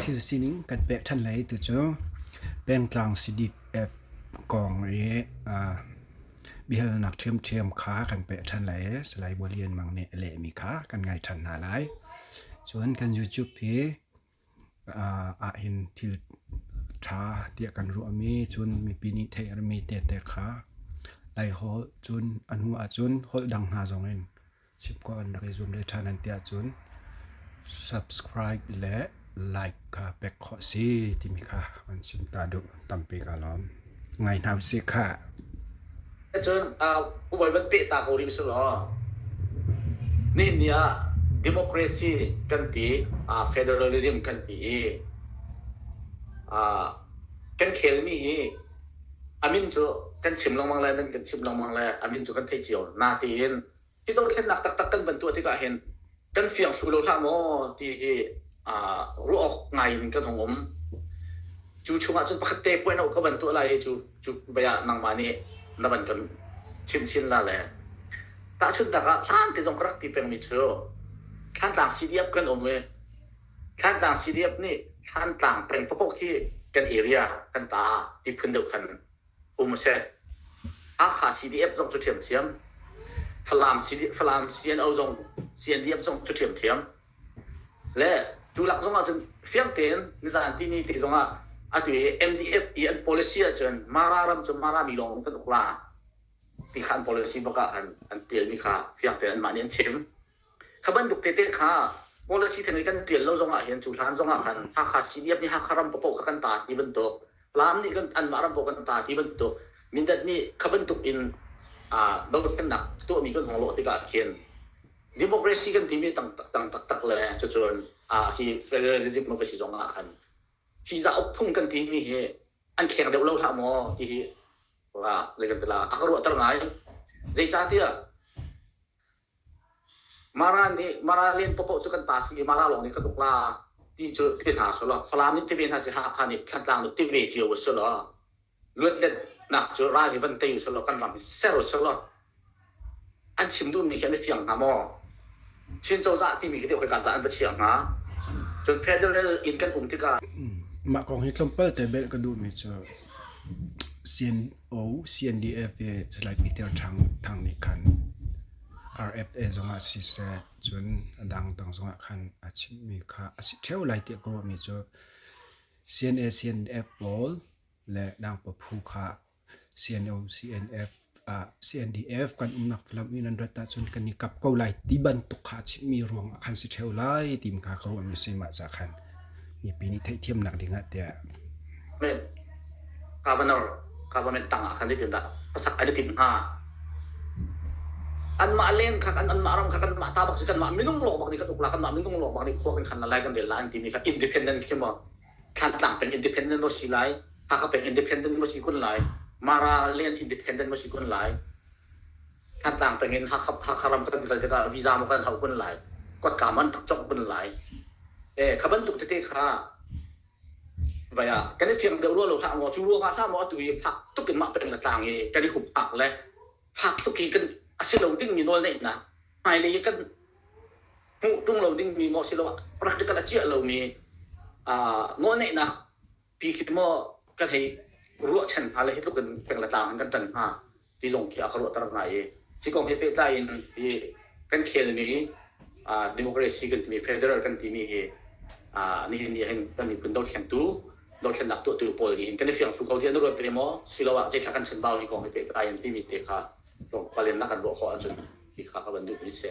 Thil sining kan pek ṭhan lai tu cu pengtlang CDF kong i biahalnak ṭhiamṭhiam kha kan pek ṭhan lai i Salai Bualian Mang nih a lehmi kha kan ngai ṭhan hna lai. Cun kan YouTube hi ahhin thil ṭha tiah kan ruahmi cun mipi nih theih a mi tete kha Laiholh cun a hnu ahcun holh dang hna zongin chim khawh an rak i zuam leh ṭhan an ti ahcun subscribe le like kha pek khawh a si timi kha an chim ta duh tampi ka lawm. Ngai hna usih khah. Cun ubai van peh ta ko rih usih law. Nihin ah democracy kan ti, federalism kan ti i kan khelmi hi a min cu kan chim lengmang le nan kan chimh lengmang le a min cu kan theih cio. Natein Hi dothlennak taktak kan van tuah tikah hin kan fiang thlu lo hlah maw ti hi ruah awk ngai in kan hung um. Cu chungah cun pakhat te puai no ka van tuah lai hi cu cu baya nangmah nih na van kan chim chin la le tahchunhnak ah hlan te zong ka rak ti pengmi cu Thlantlang CDF kan um i Thlantlang CDF nih Thlantlang peng pakok hi kan area kan ta ti phun deuh khan um a si. Hakha CDF zong cu ṭhiamṭhiam, Falam, Falam CNO zong CNDF zong cu ṭhiamṭhiam le cu lak zong ahcun fiang tein nizanpi ni te zong ah atu i MDF i an policy ahcun Mara ram cu Marami lawng in kan uk la ti kha an policy bak ah khan an ṭialmi kha fiang tein anmah nih an chim. Kha bantuk tete kha policy theng i kan tial lo zong ahhin cu hlan zong ah khan Hakha CDF nih Hakha ram paoh kha kan ta ti bantuk Laam nih kan anmah ram paoh kan ta ti bantuk Mindat nih kha bantuk in dothlennak a tuahmi kan hong lawh tikah khin democracy kan timi tang taktak taktak le cucun hi federalism ka si zong ah khan hi zauk phung kan timi hi an kheng deuh lo hlah maw ti hi zei kan ti la a ka ruahter ngai zeicahtiah Mara nih Mara len popoh cu kan ta si i Mara lawng nih kan uk la ti cu ti hna sulaw Falam in tive hna si Hakha nih Thlantlang nu tive cio a si law luatletnak cu ral hi van tei u sulaw kan ram hi ser u sulaw an chim duhmi khi an i fiang hnga maw? Chin cozah timi khi deuh khoika dah an va chiah hnga? Cun federal in kan um tikah Mah kong hi tlawmpalte bel ka duhmi cu siin O CNDF i July piter thang nih khan RFA zongah siseh cun adang dang zongah khan a chimmi kha a si theo lai tiah ka ruahmi cu CNA CNF pawl le dangpa phu kha CNO CNF uh, CNDF kan umnak lam in an rat ahcun kan i kap ko lai ti bantuk kha chimmi ruang ah khan si theo lai tim kha ka ruahmi si mah ca khan mipi nih theihthiamnak ding ah tiah government tang ah khan zeitindah pasak ai letin hnga anmah leng kha kan anmah ram kha kanmah ta bak si kanmah minung lawk bak nih kan ukla kanmah minung lawk bak nih khua kan khan la lai kan rel la an timi kha independent khi mo thlan tlang peng independent mo si lai haka peng independent mo si kun lai mara len independent mo si kun lai Hnatlak tangin Hakha ram kan kal tikah visa maw kan hauh kun lai, kotkam an rak cawk kun lai. Eh, kha bantuk tete kha vai ah kan i fiang deuh rua lo hlah maw, cu ruangah hlah maw atu i fak tuk in mah peng le tlang i kan i hup phak le fak tuk i kan a si lo dingmi nawlneihnak hmailei i kan hmuh ṭung lo dingmi maw si lo practical a ciah lomi uh, nawlneihnak pi khi maw kan hei ruahchan hna le hi tluk in peng le tlang in kan tan hnga. tilung khi a ka ruahter hna i hi kong he pehtlai in hi kan khelmi democracy kan timi federal kan timi hi nihin nih hin kan miphun dothlentu dothlennak tuahtu pawl nih hin kan i fiang thlu ko tiah na ruat ve maw siloah zeitlak kan chanbau hi kong he pehtlai in timi te kha tlawmpalennak kan ruah khawh ahcun ti kha ka van duhmi a si.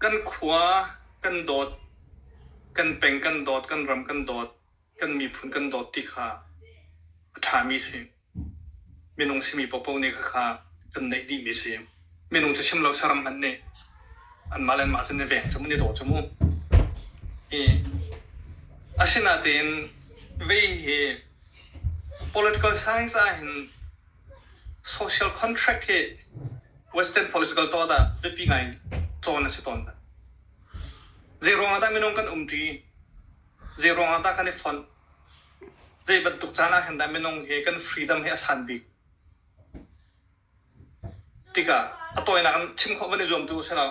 Kan khua, kan dawt, kan peng kan dawt, kan ram kan dawt, kan miphun kan dawt ti kha a ṭhami a si. Minung simi paohpaoh nih khakha kan neih dihmi a si. Minung cu chim lo saram hmanh nih anmah le anmah cu na veng cu mu, na daw cu mu. Asinain vei hi political science ahhin Social contract hi Western political tawt ah biapi ngai in tlawn a si tawn. Zei ruangah dah minung kan um ṭi? Zei ruangah dah kan i fonh? Zei bantuk caan ah hin dah minung hi kan freedom hi a san bik? Tikah a tawinak in chim khawh van i zuam tu usilaw,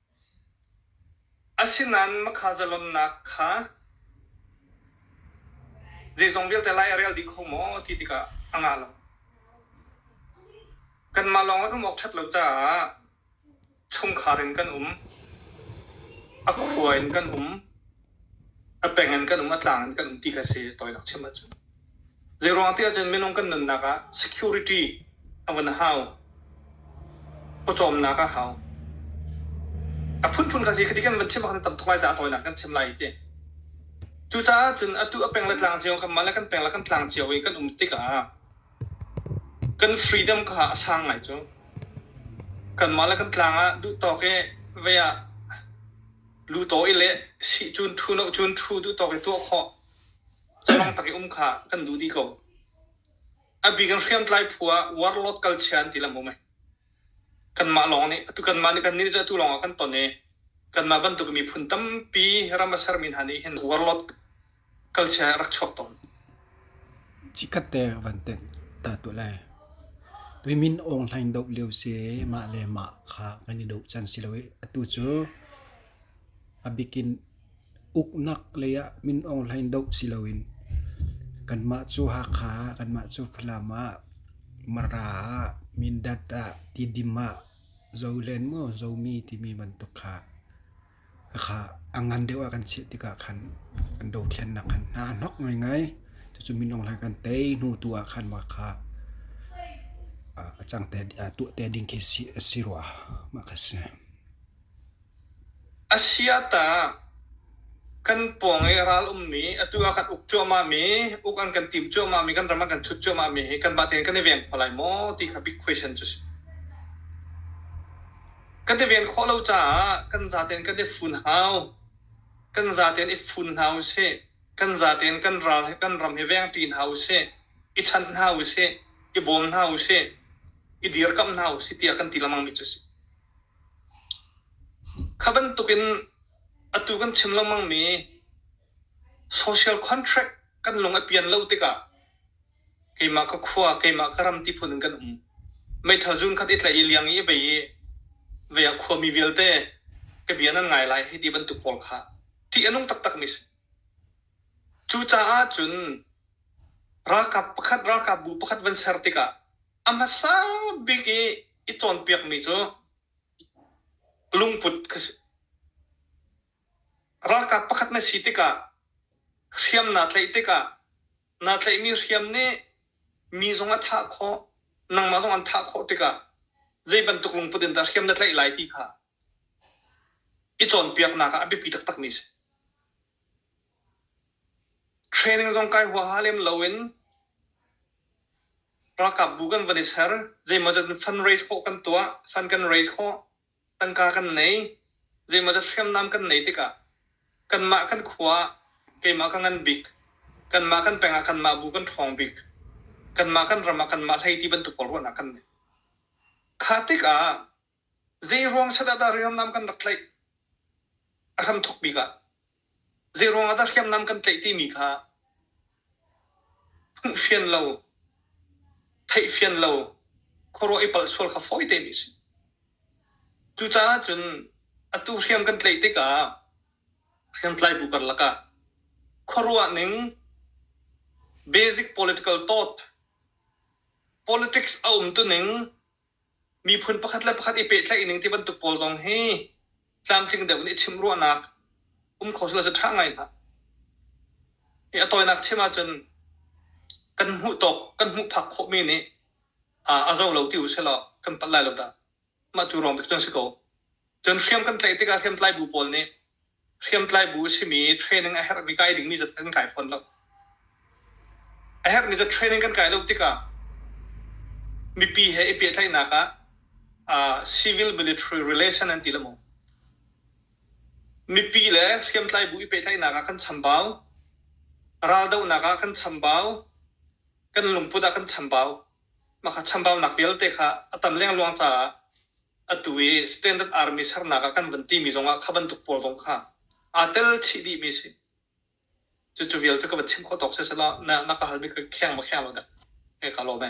Asinain makhaazalonnak kha zeizong vialte lai a rel dih kho maw ti tikah a ngah lo. Kanmah lawng an um awk ṭhat lo caah chungkhar in kan um, a khua in kan um. a peng in kan um, a tlang in kan um ti kha si tawinak chim ahcun. Zeiruang ti ahcun minung kan nunnak ah security a vun hau. Pawcawmnak a hau. A phunphun kha si khi ti kan van chim kan tam tuk lai caah tawinak kan chim lai ti. Cucaah cun atu a peng le tlang cio kan mah le kan peng le kan tlang cio i kan um tikah kan freedom kha a sang ngai cu. Kan mah le kan tlang ah duh tawk i vei ah Lutaw i le sih cun ṭhu lo cun ṭhu duhtawk i tuah khawh. Cafang tak i um kha kan duh dih ko. A bik in hriamtlai phu ah warlord culture an ti lam um ai. Kanmah lawng nih atu kanmah nih kan nih atu lawng ah kan ton i kanmah bantuk miphun tampi ram a sermi hna nih hin warlord Cikhatte van tenh ta tuah lai. Tuimin awng hlain doh lio se mah le mah kha kan i doh can si lo i atu cu a bikin uknak lei ah min awng hlain doh si loin kanmah cu Hakha ah, kanmah cu Falam ah, Mara ah, Mindat ah, Tidim ah, Zolen maw Zomi timi bantuk kha Kha a ngan deuh ah kan cheh tikah khan kan dothlennak khan hna a hnok ngaingai. Cucu minung lai kan tei hnu tu ah khan mah kha a cang te a tuah te ding khi a si rua. Mah kha si. A sia tah kan pawng i ral ummi atu ah kan uk cuahmah mi, uk an kan tim cuahmah mi, kan ram an kan thut cuahmah mi hi kan mah tein kan i veng kho lai maw ti kha big question cu si. kan i ven khawh lo caah kan zaten kan i fun hau kan zaten i fun hna u sih kan zaten kan ral he kan ram hi veng ṭi hna u sih i chanh hna u sih i bawm hna u sih i dirkamh hna u sih tiah kan ti lengmang mi cu si kha bantuk in atu kan chim lengmang mi social contract kan lung a pian lo tikah keimah ka khua keimah ka ram ti phun in kan um meithal zun khat i tlaih i liang i bei i ve ah khuami vialte ka bia nan ngai lai hi ti bantuk pawl kha ṭih a nung taktak mi cucaah cun ralkap pakhat ralkap bu pakhat van ser tikah a hmasa bik i i cawnpiak mi cu lungput ka si ralkap pakhat na si tikah hriamnaa tlaih tikah naa tlaihmi hriam nih mi zong a thah khawh, nangmah zong an thah khawh tikah zei bantuk lungput in dah hriam na tlaih lai ti kha i cawnpiaknak ah a biapi taktakmi a si. Training zong kai huaha lem loin ralkapbu kan van i ser, zeimawzat in fundraise khawh kan tuah, fund kan raise khawh, tangka kan nei, zeimawzat hriamnam kan nei tikah kanmah kan khua ah keimah ka ngan bik, kanmah kan peng ah kanmah bu kan ṭhawng bik, kanmah kan ram ah kanmah hleiti bantuk pawl ruahnak kan nei. Kha tikah zeiruang set ah dah hriamnam kan rak tlaih a hramthok bik ah Zeiruangah dah hriamnam kan tlaih timi kha hmuhfian lo, theihfian lo, khuaruah i palh sual kha fawi tein a si. Cucaah cun atu hriam kan tlaih tikah hriamtlai bu karlak ah khuaruah ning basic political thought politics a um tuning miphun pakhat le pakhat i pehtlaih ning ti bantuk pawl zong hi tlamtling deuh nih chim ruahnak um kho silo cu ṭha ngai hna. Hi a tawinak chim ahcun kan hmuh tawk kan hmuh phak khawhmi nih a zo lo ti u sih law kan palh lai lo dah. Mah cu ruang bik cu an si ko. Cun hriam kan tlaih tikah hriamtlai bu pawl nih hriamtlai bu simi training a herhmi kai dingmi zat kan kai fawn lo. A herhmi zat training kan kai lo tikah mipi he i pehtlaihnak ah uh, civil military relation an ti le mu. Mipi le hriamtlai bu i pehtlaihnak ah kan chambau. Raldohnak ah kan chambau. Kan lungput ah kan chambau. Maka chambaunak vialte kha a tam lengluang caah atu i Standard Army sernak ah kan van timi zong ah kha bantuk pawl zong kha aa tel chih dihmi si. Cucu vialte ka van chim khawh tawk sesela na, na ka halmi ka kheng ma kheng lo dek, hei ka lawm e.